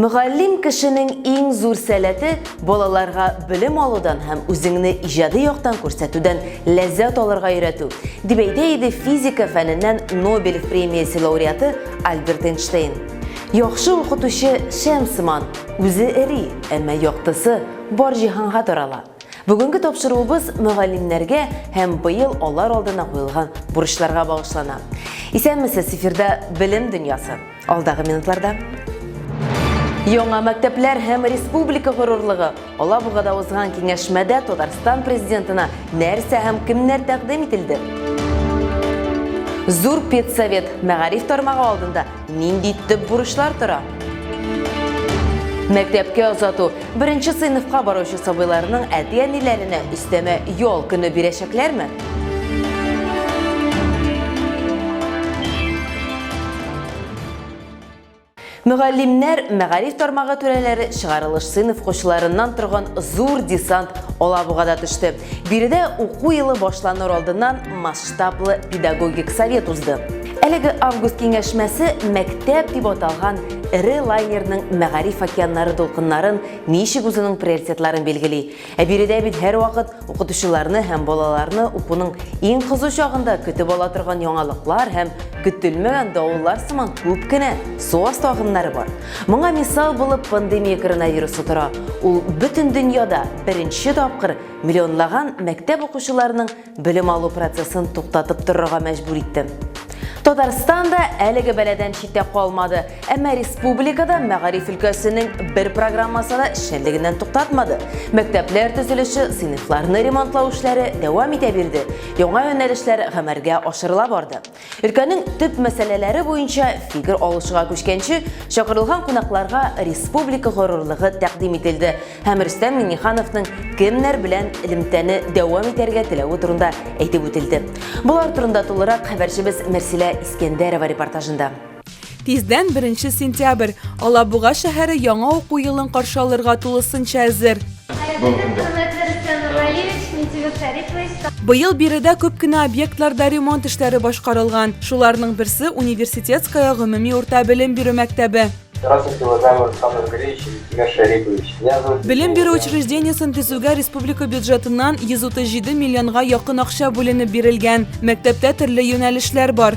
Мөгаллим кешенең иң зур сәләте балаларга белем алудан һәм үзеңне иҗади яктан күрсәтүдән ләззәт алырга өйрәтү, дип әйтә иде физика фәненнән Нобель премиясе лауреаты Альберт Эйнштейн. Яхшы укытучы шәм сыман, үзе эри, әмма яктысы бар җиһанга тарала. Бүгенге тапшыруыбыз мөгаллимнәргә һәм быел алар алдына куелган бурычларга багышлана. Исәнмесез, эфирда Белем дөньясы. Алдагы минутларда Яңа мәктәпләр һәм республика горурлыгы. Алабугада узган киңәшмәдә Татарстан президентына нәрсә һәм кемнәр тәкъдим ителде? Зур педсовет мәгариф тармагы алдында нинди төп бурычлар тора? Мәктәпкә озату. Беренче сыйныфка баручы сабыйларның әти-әниләренә өстәмә ял көне бирәчәкләрме? Мөгаллимнәр мәгариф тармагы түрәләре чыгарылыш сыйныф укучыларыннан торган зур десант Алабугада төште. Биредә уку елы башланыр алдыннан масштаблы педагогик совет узды. Әлеге август киңәшмәсе мәктәп дип аталган эре лайнерның мәгариф океаннары дулкыннарын ничек үзенең приоритетларын билгели, Ә биредә бит һәрвакыт укытучыларны һәм балаларны укуның иң кызу чагында көтеп ала торган яңалыклар һәм көтелмәгән давыллар сыман күп кенә су асты агымнары бар. Моңа мисал булып пандемия коронавирусы тора. Ул бөтен дөньяда беренче тапкыр миллионлаган мәктәп укучыларының белем алу процессын туктатып торырга мәҗбүр итте. Татарстан да әлеге бәладән читтә калмады, әмма республикада мәгариф өлкәсенең бер программасы да эшчәнлегеннән туктатмады. Мәктәпләр төзелеше, сыйныфларны ремонтлау эшләре дәвам итә бирде, яңа юнәлешләр гамәлгә ашырыла барды. Өлкәнең төп мәсьәләләре буенча фикер алышуга күчкәнче, чакырылган кунакларга республика горурлыгы тәкъдим ителде һәм Рөстәм Миңнехановның кемнәр белән элемтәне дәвам итәргә теләве турында әйтеп үтелде. Болар турында тулырак хәбәрчебез Мәрсилә Искәндәрова репортажында. Тиздән беренче сентябрь. Алабуга шәһәре яңа уку елын каршы алырга тулысынча әзер. Быел биредә күп кенә объектларда ремонт эшләре башкарылган. Шуларның берсе Университетская гомуми урта белем бирү мәктәбе. Белем бирү учреждениесен төзүгә республика бюджетыннан 137 миллионга якын акча бүленеп бирелгән. Мәктәптә төрле юнәлешләр бар.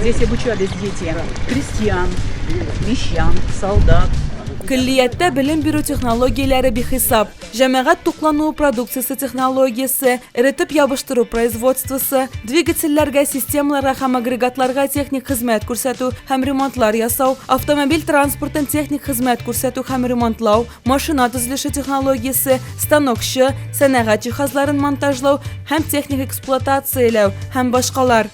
Здесь обучались дети крестьян, мещан, солдат. Көллияттә белем бирү технологияләре бихисап. Җәмәгать туклануы продукциясе технологиясе, эретеп ябыштыру производствосы, двигательләргә, системаларга һәм агрегатларга техник хезмәт күрсәтү һәм ремонтлар ясау, автомобиль транспортын техник хезмәт күрсәтү һәм ремонтлау, машина төзелеше технологиясе, станокчы, сәнәгать җиһазларын монтажлау һәм техник эксплуатацияләү һәм башкалар.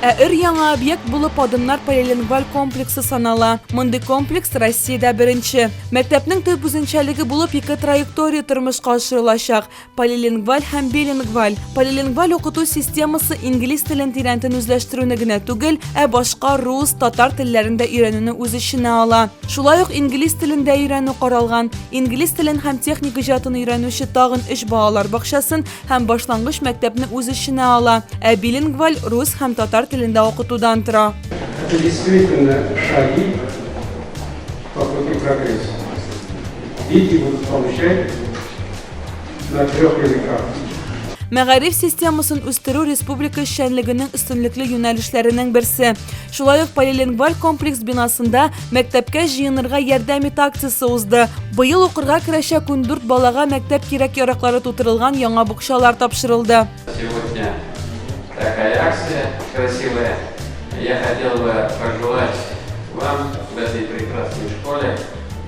Ә өр яңа объект булып Адымнар полилингваль комплексы санала. Мондый комплекс Россиядә беренче. Мәктәпнең төп үзенчәлеге булып ике траектория тормышка ашырылачак. Полилингваль һәм билингваль. Полилингваль укыту системасы инглиз телен тирәнтен үзләштерүне генә түгел, ә башка рус, татар телләрен дә өйрәнүне үз эченә ала. Шулай ук инглиз телен дә өйрәнү каралган. Инглиз телен һәм техник иҗатын өйрәнүче тагын өч балалар бакчасын һәм башлангыч мәктәпне үз эченә ала, ә билингваль рус һәм татар телендә укытудан тора. Это действительно шаги по пути прогресса. Дети будут получать на трех языках. Мәгариф системасын үстерү республика эшчәнлегенең өстенлекле юнәлешләренең берсе. Шулай ук полилингваль комплекс бинасында мәктәпкә җыенырга ярдәм ит акциясе узды. Быел укырга керәчәк ундүрт балага мәктәп кирәк-яраклары тутырылган яңа букчалар тапшырылды. Сегодня такая акция красивая. Я хотел бы пожелать вам в этой прекрасной школе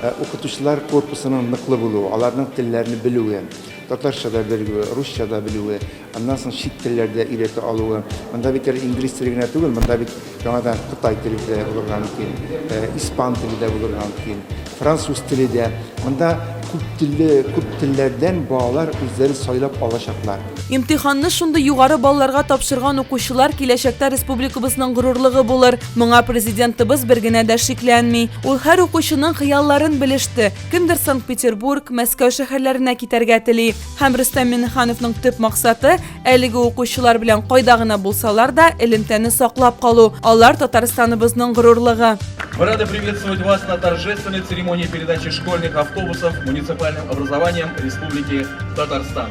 Э, укытучылар корпусының ныклы булуы, аларның телләрне белүе, татарча да белүе, русча да белүе, аннан соң чит телләрдә өйрәтә алуы. Монда бит әле инглиз теле генә түгел, монда бит яңадан кытай теле дә булырга мөмкин, э, испан теле дә булырга мөмкин, француз теле дә. Монда күп телле, күп телләрдән балалар үзләре сайлап алачаклар. Имтиханны шундый югары балларга тапшырган укучылар киләчәктә республикабызның горурлыгы булыр. Моңа Президентыбыз бер генә дә шикләнми. Ул һәр укучының хыялларын белеште. Кемдер Санкт-Петербург, Мәскәү шәһәрләренә китәргә тели. Һәм Рөстәм Миңнехановның төп максаты, әлеге укучылар белән кайда гына булсалар да, элемтәне саклап калу. Алар Татарстаныбызның горурлыгы. Мы рады приветствовать вас на торжественной церемонии передачи школьных автобусов муниципальным образованиям Республики Татарстан.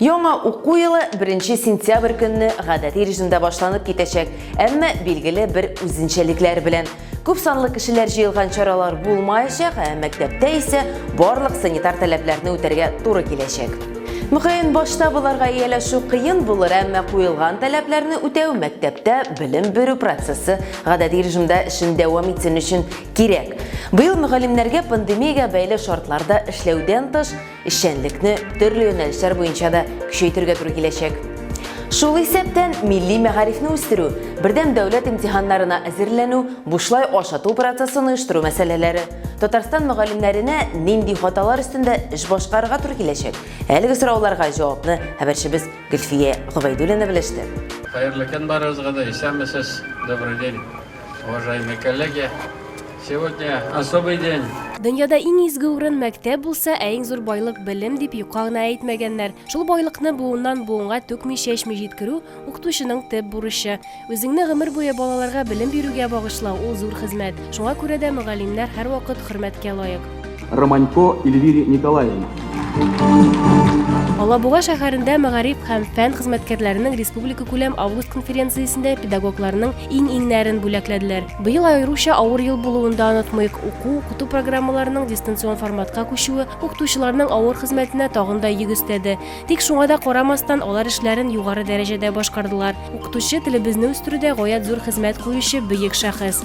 Яңа уку елы 1 сентябрь көнне гадәти режимда башланып китәчәк, әмма билгеле бер үзенчәлекләр белән. Күп санлы кешеләр җыелган чаралар булмаячак, ә мәктәптә исә барлык санитар таләпләрне үтәргә туры киләчәк. Мөгаен, башта боларга ияләшү кыен булыр, әмма куелган таләпләрне үтәү мәктәптә белем бирү процессы гадәти режимда эшен дәвам итсен өчен кирәк. Быел мөгаллимнәргә пандемиягә бәйле шартларда эшләүдән тыш, Эшчәнлекне төрле юнәлешләр буенча да көчәйтергә туры киләчәк. Шул исәптән милли мәгарифне үстерү, бердәм дәүләт имтиханнарына әзерләнү, бушлай ашату процессын оештыру мәсьәләләре. Татарстан мөгаллимнәренә нинди хаталар өстендә эш башкарырга туры киләчәк? Әлеге сорауларга җавапны хәбәрчебез Гөлфия Гобәйдуллина белеште. Хәерле көн барыгызга да, исәнмесез, добрый день. Уважаемые коллеги, сегодня особый день. Дөньяда иң изге урын мәктәп булса, ә иң зур байлык белем дип юкка гына әйтмәгәннәр. Шул байлыкны буыннан буынга түкми чәчми җиткерү укытучының төп бурычы. Үзеңне гомер буе балаларга белем бирүгә багышлау ул зур хезмәт. Шуңа күрә дә мөгаллимнәр һәрвакыт хөрмәткә лаек. Романько Эльвире Николаевна. Алабуга шәһәрендә мәгариф һәм фән хезмәткәрләренең республика күләм август конференциясендә педагогларның иң-иңнәрен бүләкләделәр. Быел аеруча авыр ел булуын да онытмыйк. Уку, укыту программаларының дистанцион форматка күчүе укытучыларның авыр хезмәтенә тагын да йөк өстәде. Тик шуңа да карамастан, алар эшләрен югары дәрәҗәдә башкардылар. Укытучы телебезне үстерүдә гаять зур хезмәт куючы бөек шәхес.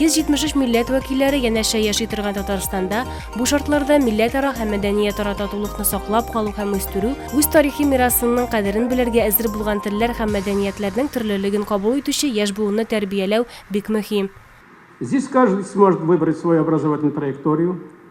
173 милләт вәкилләре янәшә яши торган Татарстанда бу шартларда милләтара һәм мәдәниятара татулыкны саклап калу һәм үстерү, үз тарихи мирасының кадерен белергә әзер булган телләр һәм мәдәниятләрнең төрлелеген кабул итүче яшь буынны тәрбияләү бик мөһим. Здесь каждый сможет выбрать свою образовательную траекторию,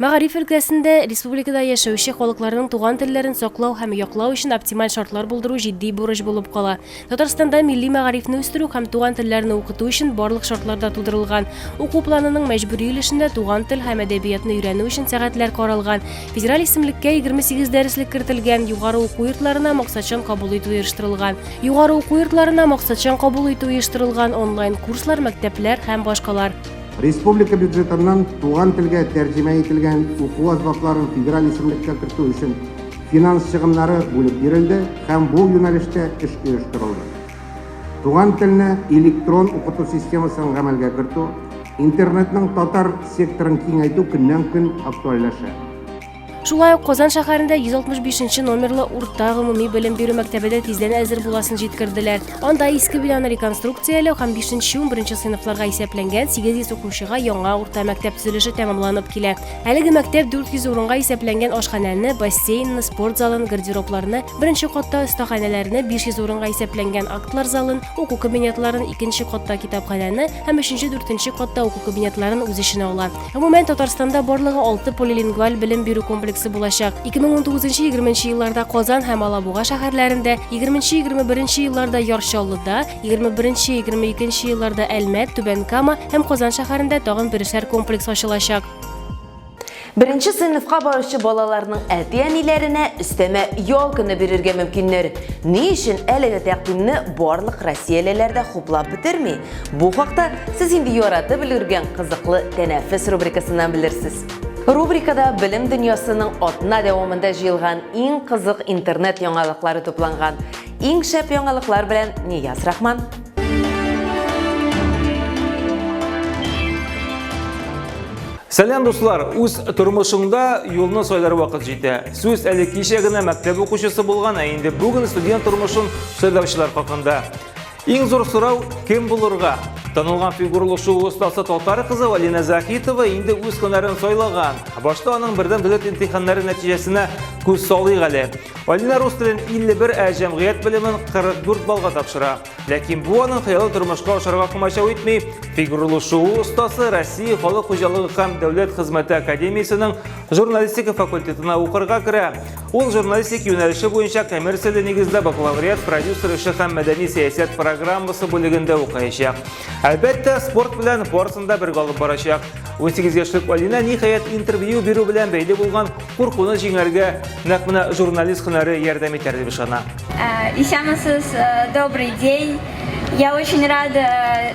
Мәгариф өлкәсендә республикада яшәүче халыкларның туган телләрен саклау һәм яклау өчен оптималь шартлар булдыру җитди бурыч булып кала. Татарстанда милли мәгарифне үстерү һәм туган телләрне укыту өчен барлык шартлар да тудырылган. Уку планының мәҗбүри өлешендә туган тел һәм әдәбиятны өйрәнү өчен сәгатьләр каралган, федераль исемлеккә 28 дәреслек кертелгән, югары уку йортларына максатчан кабул итү оештырылган. Югары уку йортларына максатчан кабул итү оештырылган, онлайн-курслар, мәктәпләр һәм башкалар. Республика бюджетыннан туган телгә тәрҗемә ителгән уку азбапларын федераль исемлеккә кертү өчен финанс чыгымнары бүлеп бирелде һәм бу юнәлештә эш оештырылды. Туган телне электрон укыту системасын гамәлгә кертү, интернетның татар секторын киңәйтү көннән-көн актуальләшә. Шулай ук Казан шәһәрендә 165 номерлы урта гомуми белем бирү мәктәбе дә тиздән әзер буласын җиткерделәр. Анда иске бинаны реконструкцияләү һәм 5-11 сыйныфларга исәпләнгән 800 укучыга яңа урта мәктәп төзелеше тәмамланып килә. Әлеге мәктәп 400 урынга исәпләнгән ашханәне, бассейнны, спорт залын, гардеробларны, беренче катта остаханәләрне, 500 урынга исәпләнгән актлар залын, уку кабинетларын, икенче катта китапханәне һәм өченче-дүртенче катта уку кабинетларын үз эченә ала. Гомумән, Татарстанда барлыгы алты полилингваль белем бирү комплексы булачак. 2019-20 елларда Казан һәм Алабуга шәһәрләрендә, 20-21 елларда Яр Чаллыда, 21-22 елларда Әлмәт, Түбән Кама һәм Казан шәһәрендә тагын берешәр комплекс ачылачак. Беренче сыйныфка баручы балаларның әти-әниләренә өстәмә ял көне бирергә мөмкиннәр. Ни өчен әлеге тәкъдимне барлык россиялеләр дә хуплап бетерми? Бу хакта сез инде яратып өлгергән кызыклы тәнәфес рубрикасыннан белерсез. Рубрикада белем дөньясының атна дәвамында җыелган иң кызык интернет яңалыклары тупланган. Иң шәп яңалыклар белән Нияз Рахман. Сәлам дуслар, үз тормышыңда юлны сайлар вакыт җитә. Сүз әле кичә генә мәктәп укучысы булган, ә инде бүген студент тормышын сайлаучылар хакында. Иң зур сорау кем булырга? Танылган фигурлы шоу остасы татар кызы Валина Захитова инде үз һөнәрен сайлаган. Башта аның бердәм дәүләт имтиханнары нәтиҗәсенә күз салыйк әле. Валина рус телен 51, ә җәмгыять белемен 44 баллга тапшыра. Ләкин бу аның хыялы тормышка ашарга комачау итми. Фигурлы шоу остасы Россия халык хуҗалыгы һәм дәүләт хезмәте академиясенең журналистика факультетына укырга керә. Ул журналистик юнәлеше буенча коммерцияле нигездә бакалавриат, продюсер эше һәм мәдәни сәясәт программасы бүлегендә укыячак. Әлбәттә, спорт белән барысын да бергә алып барачак. 18 яшьлек Алина ниһаять интервью бирү белән бәйле булган куркуны җиңәргә нәкъ менә журналист һөнәре ярдәм итәр дип ышана. Исәнмесез, добрый день. Я очень рада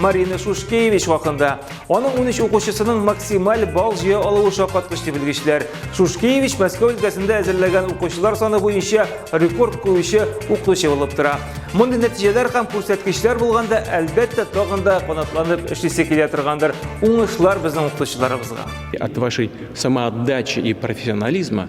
Марина Шушкевич хакында. Аның 13 укучысының максималь балл җыя алуы шаккаткыч дип белгечләр. Шушкевич Мәскәү өлкәсендә әзерләгән укучылар саны буенча рекорд куючы укытучы булып тора. Мондый нәтиҗәләр һәм күрсәткечләр булганда, әлбәттә, тагын да канатланып эшлисе килә торгандыр. Уңышлар безнең укытучыларыбызга. От вашей самоотдачи и профессионализма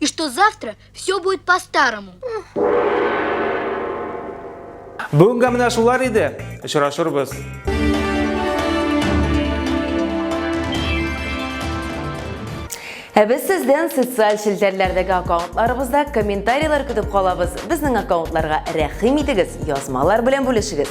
И что завтра все будет по-старому. Бүгенге менә шулар иде. Очрашырбыз. Ә без сездән социаль челтәрләрдәге аккаунтларыбызда комментарийлар көтеп калабыз. Безнең аккаунтларга рәхим итегез, язмалар белән бүлешегез.